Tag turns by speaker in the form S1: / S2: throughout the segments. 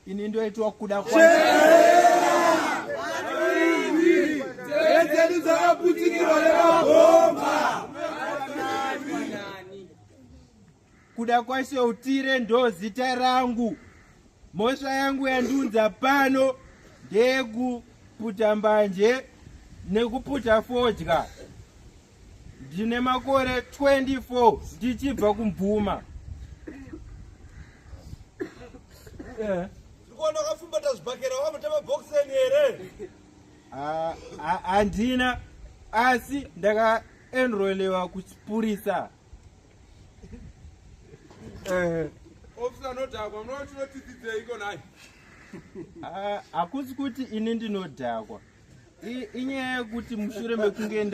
S1: ini ndoitwa kuda dzedu dzakaputikirwa nemabhomba kuda kwaise utire ndo zita rangu mhosva yangu yandiunza pano ndeyekuputa mbanje nekuputa fodya ndine makore 24 ndichibva kumbvuma eh. ndikuona wakafumbata zvibhakera wamutema bokiseni here ah, ah, handina asi ndakaenrolewa kuchipurisa eh. ofisa anodhakwa munoona tinotidzidzeiko nai hakusi kuti ini ndinodhakwa inyaya yekuti mushure mekunge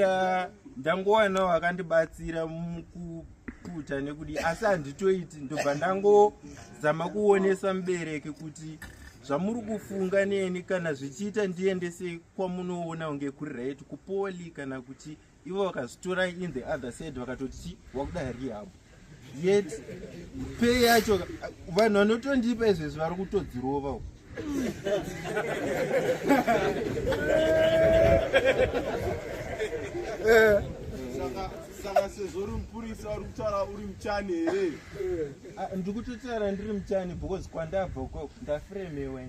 S1: ndangowanawo akandibatsira mukuputa nekudii asi handitoiti ndobva ndangozama kuonesa mubereki kuti zvamuri kufunga neni kana zvichiita ndiendese kwamunoona kunge kuri right kupoli kana kuti ivo vakazitora in the other side vakatoti chi wakuda rehab yet pay yacho vanhu vanotondipa izvezvi vari kutodzirova u
S2: eh. saka sezvo uri mupurisa uri kutaura uri muchani here ah, ndiri
S1: kutotaura ndiri muchani because kwandabva ndafremewen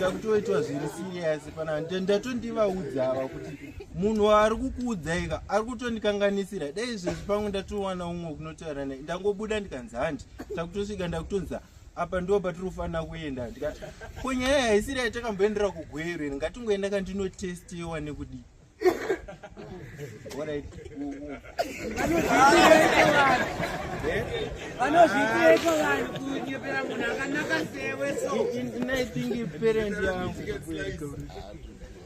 S1: takutoitwa zviri serious pana ndatondivaudza ava kuti munhu waari kukuudzaika ari kutondikanganisira dai izvezvi pamwe ndatowana umwe kunotaura naye ndangobuda ndikanzi handi takutosvika ndakutonza apa ndo patiri kufanira kuenda ndikati ko nyaya haisiri yatakamboendera kugwero iri ngatingoenda kandinotestiwa nekudii vanozvitireko vanhu kunyepera munhu akanaka sewe sonaithingi parent yangu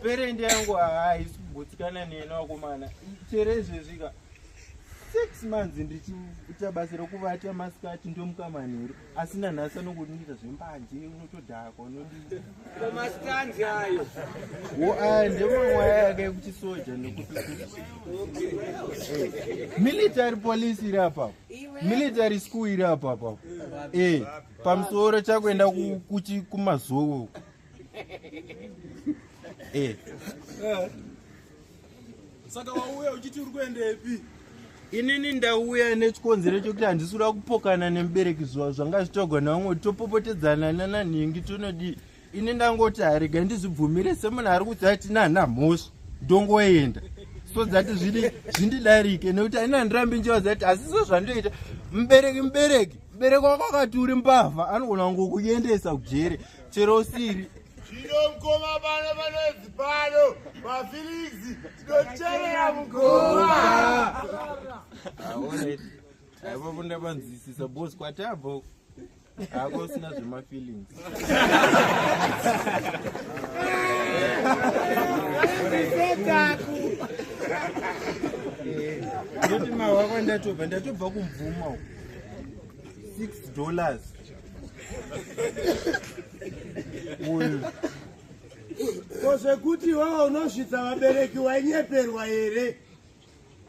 S1: parent yangu haisi kugutsikana nena wakomana chere izvezvika six months ndichiita basa rekuvata masikati ndomuka manheru asi nanhasi anongondiita zvembanje unotodhakwa unodimastanzi
S3: ayo wo aya
S1: ndemawaya yake ekuchisoja nekutimilitary police iri apapo military school iri apapo e eh, pamusoro chakuenda kumazowo e eh.
S2: saka wauya uchiti uri kuendepi inini
S1: ndauya nechikonzero chokuti handisi kuda kupokana nemubereki zuva zvanga zvitogona vamwe kuti topopotedzana nananhingi tonodii ini ndangoti harega ndizvibvumire semunhu ari kuti ati nana mhosva ndongoenda so dzati zvidi zvindidarike nekuti aina ndirambi njewa dzati asi so zvandoita mubereki mubereki mubereki wako akati uri mbavha anogona kungokuendesa kujere chero usiri Zvino mkoma
S2: pano panoedzi pano mafilisi tinocherera mukoma.
S1: Aivo kunda vanzwisisa boss kwatabva hako usina zvemafeelings. Ndoti mawako ndatobva ndatobva kumvuma uko. 6 dollars.
S2: uyu ko zvekuti iwewe unosvitsa vabereki wainyeperwa here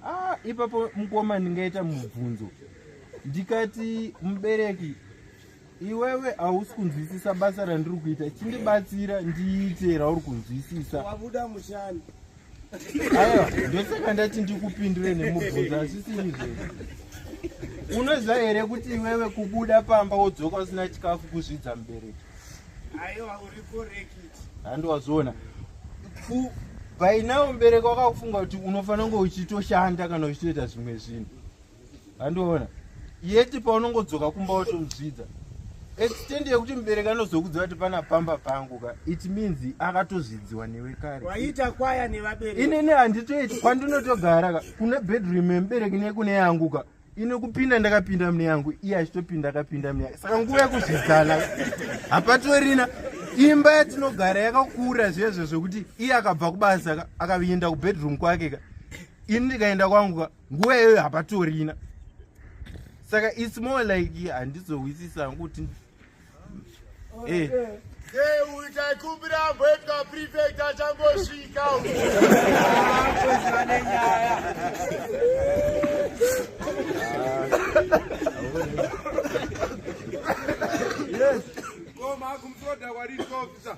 S2: ah,
S1: ipapo mukoma ndingaita mubvunzo ndikati mubereki iwewe hausi kunzwisisa basa randiri kuita chindibatsira ndiite rauri kunzwisisa wabuda mushani aiwa ndosaka ndati ndikupindure nemubvunzo asisiri zve unoziva here kuti iwewe kubuda pamba wodzoka usina chikafu kuzvidza mubereki aiwa
S2: uri korekti handiwazviona
S1: by now mubereki wakakufunga kuti unofanira kunge uchitoshanda kana uchitoita zvimwe zvinhu handiona yeti paunongodzoka kumba watomuzvidza extend yekuti mubereki anozokudza vati pana pamba pangu ka it means akatozvidziwa newe kare waita kwaya
S2: nevabereki inini handitoiti
S1: kwandinotogara ka kune bedroom yemubereki nekune yangu ka ine kupinda ndakapinda mune yangu iye achitopinda akapinda mune yangu saka nguva yekuzvidzana hapatorina imba yatinogara yakakura zvezvo zvekuti iye akabva kubasa ka akavienda kubedroom kwake ka ini ndikaenda kwangu ka nguva iyoyo hapatorina saka its more like handizohwisisa hangu kuti eh.
S2: Yes. Go, Mark, I'm so that what is officer.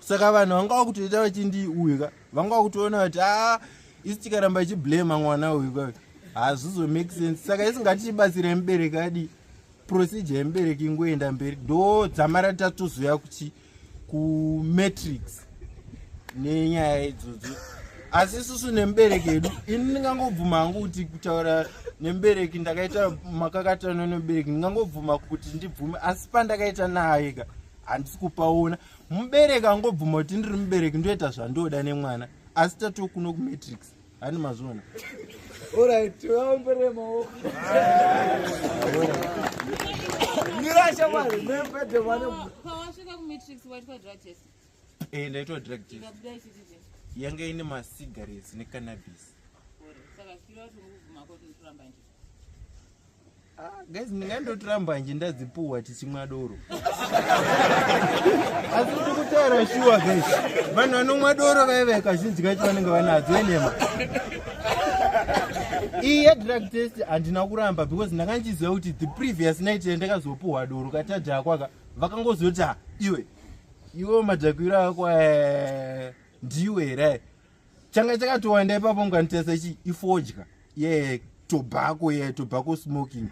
S1: saka vanhu vanga vakutoita vachindiuyuka vanga vakutoona kuti a ah, isi tikaramba ichiblema mwana uyu ka hazvizo make sense saka isi ngatichibatsira mubereki adi procedure yemubereki ingoenda mberi do dzamara tatozoya kuchi kumatrix nenyaya idzodzo asi isusu nemubereki edu ini ndingangobvuma hangu kuti kutaura nemubereki ndakaita makakatano nemubereki ndingangobvuma kuti ndibvume asi pandakaita naye ka handisi kupaona mubereki angobvuma kuti ndiri mubereki ndoita zvandoda nemwana asi tatiwo kuno kumatrix hani mazviona
S3: eh,
S4: ndaitwa
S1: drug test yanga ine macigarettes necannabis Ah, guys ndingandotiramba nje ndadzipuhwa tichimwa doro asi kuti kutaura shuwa guys vanhu vanomwa doro vaive kazhinji kacho vanenge vanadzo enema iyi yedrug test handina kuramba because ndanga ndichiziva kuti the previous night yandakazopuhwa doro katadhakwaka vakangozoti ah, iwe iwe madhakwiro ako eh, ndiwe here changa chakatowanda ipapo mukanitesa chi ifodya ye tobacco ye tobacco smoking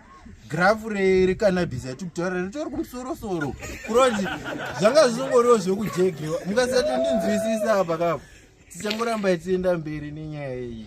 S1: grafu recanabis yati kutaura ritori kumusorosoro kuroti zvanga zvisongoriwo zvekujegewa mukasati ndinzwisisa apa kapo tichangoramba itienda mberi nenyaya iyi